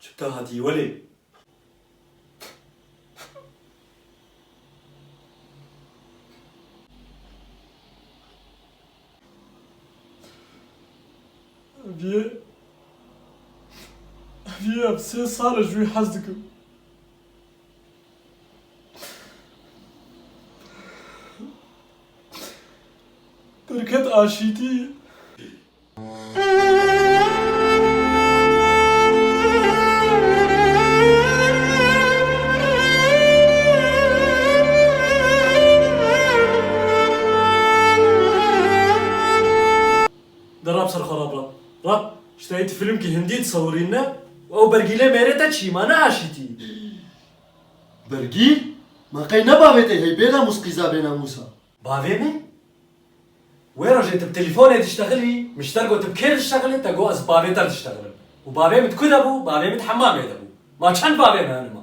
Tu te hatî welê. Vîyê vîyê em sê sal e ji wî hez dikim. Derket aşîtî. Derab ser xeraba. Rab, ji tayî tu fîlmkî hindî disewirîne û ew bergîlê mêrê te çî ma ne aşîtî. Bergîl? Ma qey ne bavê te hey bêna mûs qîza bêna mûsa. Bavê me? Wê rojê tu bi telîfonê diştexilî, mişter got tu bi kê diştexilî, te got ez bi bavê te diştexilim. Û bavê min ku de bû? Bavê min di hemamê de bû. Ma çend bavê me hene ma?